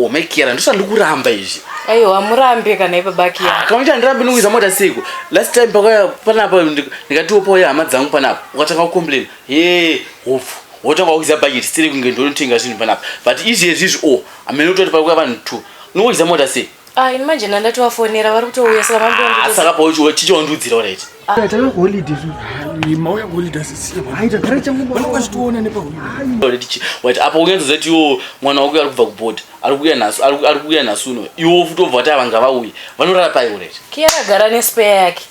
omaikera ndosva ndikuramba izvi aiwa hamurambe kana ipabakia ah, kama kuti handirambi ndikuiza mota siku last time pakauya panapa ndikatiwo pauya hama dzangu panapa ukatanga kucomplain he hopfu wotanga kuiza bhaketi siri kunge ndonotenga zvinhu panapa but izvezvi izvi o oh, amene utoti pakuya vanhu two ndikuiza mota sei Ah, ini manje ndandatovafonera vari kutouya saka mambo Ah, saka pauchiwa chichondudzira right Tava holiday zvo. Mauya holiday sisi. Hai tagara changu baba. Vanenge vachitoona nepa holiday. Already chi. Wait, apa ungenza zati yo mwana wako ari kubva kuboard. Ari kuya nasu, ari kuya nasu no. Iwo futi obva tava ngava uyi. Vanorara pai already. Kiara gara ne spare yake.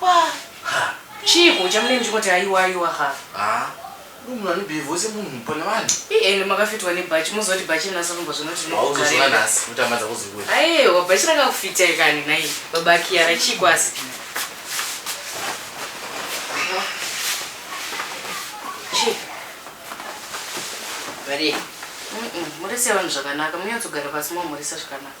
Haa chiiko chamune muchingoti aiwa aiwa haa. Haa uyu munhu ane behaviour semunhu pane vanhu. Ii ende makafitwa nebhachi moziva kuti bhachi rina Sarumba zvinoti rinokukarira. Wauzozviona nhasi kutambadza kuzikuti. Aiwa bhachi rakakufitai kani nhai baba Kiara chiiko asi. Chii? Varii? Mm-mm, Mhorese vanhu zvakanaka munyatsogara pasi momhoresa zvakanaka.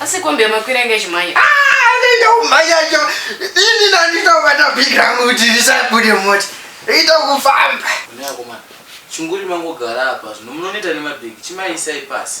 asi kombi yamakwira inge chimhanya ndoumhanyacho ini nanditobata big rangu kuti risabude moti ita kufamba chinguri mangogara apa zvino munonoita nemabhegi chimaisai pasi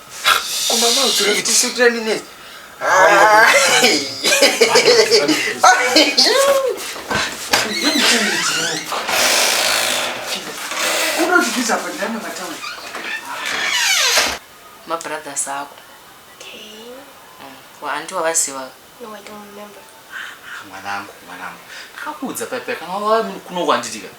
kumama uchiri kuti sitira minutes unozvibvisa pandana mataura mabrothers ako waanti wavaziva mwanangu mwanangu ndikakuudza paipai kana wava kuno kwanditika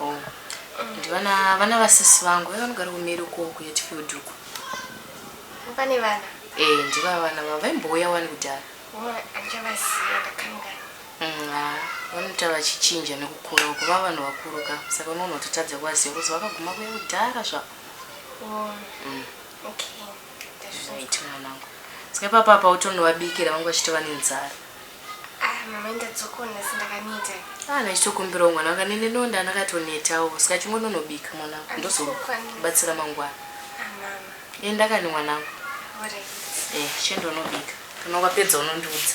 Oh. Ndivana vana vasisi vangu vaiva vanogara kumeri uko kuHatfield uko. Pane vana? Eh, ndiva vana vavo vaimbouya wani kudhara. Oh, andichavaziva ndakanga. Mm, ah, vanoita vachichinja nekukura uko vava vanhu vakuru ka saka unoona kuti tadza kuvaziva kuzi vakaguma kuya kudhara zvavo. Oh. Mm. Okay. Ndazvizoita mwanangu. Saka ipapa apa utonovabikira vangu vachitova nenzara. Ah, mama ndadzoka nhasi ndakaneta. Ah, ndachitokumbirawo mwana wanga nene nonda ndakatonetawo saka chingononobika mwana wangu ndozobatsira mangwana. Ah, mama. Enda kani mwana wangu. Alright. Eh, chendo unobika. Kana wapedza unondiudza.